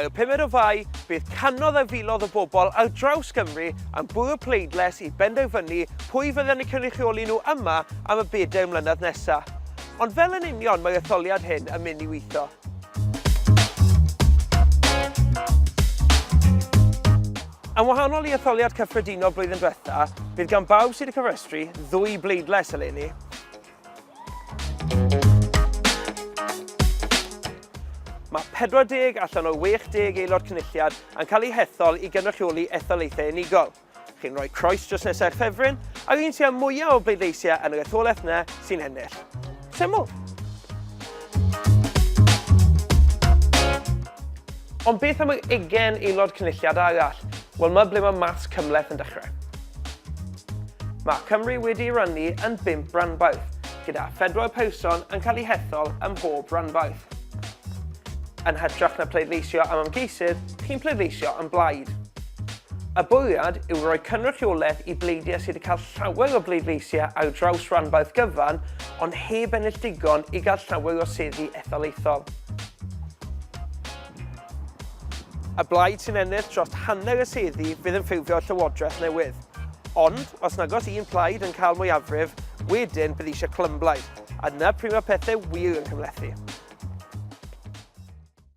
Ar y pumed o Fai, bydd canodd a filodd o bobl ar draws Gymru am bwrw pleidles i benderfynu pwy fydden ni cynrychioli nhw yma am y bedair mlynedd nesaf. Ond fel yn union mae'r etholiad hyn yn mynd i weithio. Yn wahanol i etholiad cyffredinol blwyddyn diwetha, bydd gan bawb sydd wedi cofrestru ddwy bleidlais eleni. Mae 40 allan o 60 aelod cynulliad yn cael eu hethol i gynrychioli etholaethau unigol. Chi'n rhoi croes dros nesau'r ffefryn, ac un sy'n mwyaf o bleidleisiau yn yr etholaeth yna sy'n ennill. Syml. Ond beth am yr ugen aelod cynulliad arall? Wel, mae ble mae mas cymleth yn dechrau. Mae Cymru wedi rannu yn bimp ranbarth, gyda phedwar person yn cael eu hethol ym mhob ranbarth. Yn hytrach na pleidleisio am ymgeisydd, chi'n pleidleisio am blaid. Y bwriad yw rhoi cynrychiolaeth i bleidiau sydd wedi cael llawer o bleidleisiau ar draws ranbarth gyfan ond heb ennill digon i gael llawer o seddi etholaethol. Y blaid sy'n ennill dros hanner y seddi fydd yn ffurfio'r llywodraeth newydd. Ond, os nag oes un plaid yn cael mwyafrif, wedyn bydd eisiau clymblaid, a dyna pryd mae pethau wir yn cymhlethu.